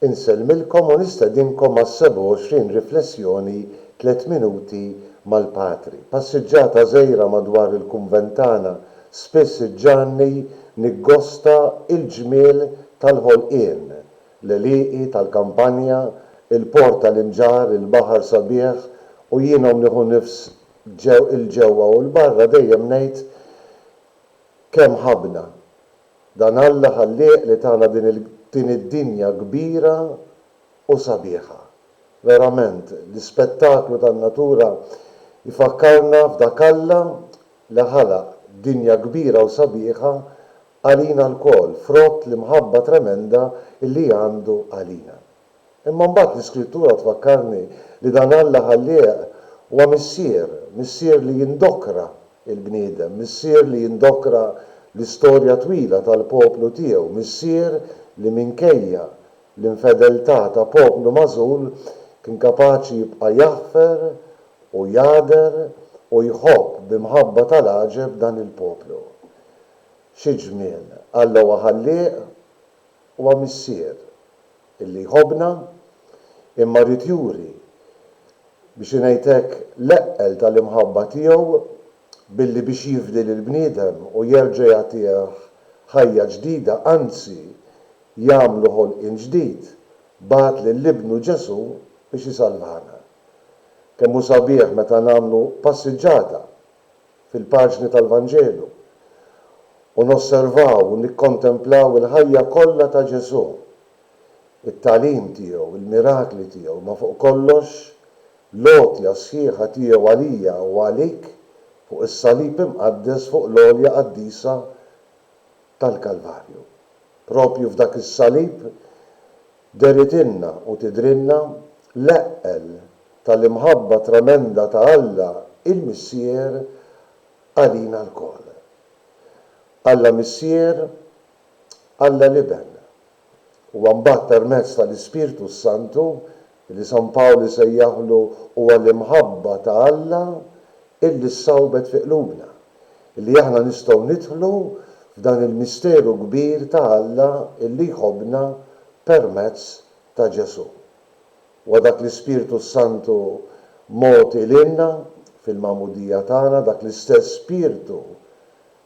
Insellmilkom u nistedinkom għas-27 riflessjoni Tliet Minuti mal-Patri. Passiġġata żgħira madwar il-kunvent tagħna spiss iġġagħalni niggosta l-ġmiel tal-ħolqien, l-għelieqi tal-kampanja, il-port tal-imġarr, il-baħar sabiħ u jienhom nieħu nifs 'l ġewwa u 'l barra dejjem ngħid kemm ħabbna, Dan Alla Ħallieq li tana din il din id-dinja kbira u sabiħa. Verament, l-ispettaklu tan-natura jfakkarna f'dak Alla li ħalaq dinja kbira u sabiħa għalina lkoll frott l-imħabba tremenda li għandu għalina. Imma mbagħad l-Iskrittura tfakkarni li dan Alla ħallieq huwa Missier, Missier li jindokra l-bniedem, Missier li jindokra l-istorja twila tal-poplu tiegħu, Missier li minkejja l-infedeltà ta' poplu magħżul kien kapaċi jibqa' jaħfer u jagħder u jħobb bi mħabba tal-għaġeb dan il-poplu. Xi ġmiel! Alla huwa ħallieq Huwa Missier illi jħobbna, imma ried juri, biex ingħid hekk, l-eqqel tal-imħabba tiegħu billi biex jifdi lill-bniedem u jerġa' jagħtih ħajja ġdida, anzi, jagħmlu ħolqien ġdid, bagħat lil Ibnu Ġesù biex isalvana. Kemm hu sabiħ meta nagħmlu passiġġata fil-paġni tal-Vanġelu u nosservaw u nikkontemplaw il-ħajja kollha ta' Ġesù, it-tagħlim tiegħu, il-mirakli tiegħu, ma fuq kollox, l-għotja sħiħa tiegħu għalija u għalik fuq is-salib imqaddes fuq l-għolja qaddisa tal-Kalvarju. Proprju f'dak is-salib Deridilna u tidhrilna l-eqqel tal-imħabba tremenda ta' Alla il-Missier għalina lkoll. Alla Missier, Alla l-Iben. Huwa mbagħad permezz tal-Ispirtu s-Santu li San Pawl isejjaħlu huwa l-imħabba ta' Alla illi ssawbet fi qlubna. li aħna nistgħu nidħlu f'dan il-misteru kbir ta' Alla li jħobbna permezz ta' Ġesù. Huwa dak l-Ispirtu s-Santu mogħti lilna fil-magħmudija tagħna, dak l-istess Spirtu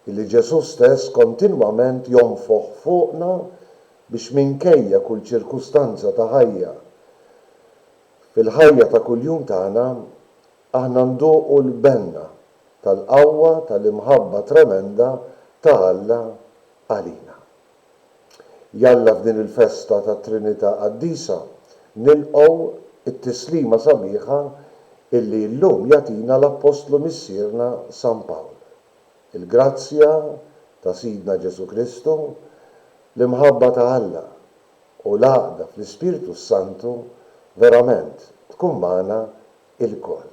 li Ġesù stess kontinwament jonfoħ fuqna biex minkejja kull ċirkustanza ta' ħajja fil-ħajja ta' kuljum tagħna aħna nduqu l-benna tal-qawwa tal-imħabba tremenda ta' Alla għalina. Jalla f'din il-festa tat-Trinità Qaddisa nilqgħu t-tislima sabiħa illi llum jagħtina l-Appostlu Missierna San Pawl, Il-grazzja ta' Sidna Ġesù Kristu, l-imħabba ta' Alla u l-għaqda fl-Ispirtu s-Santu verament tkun magħna ilkoll.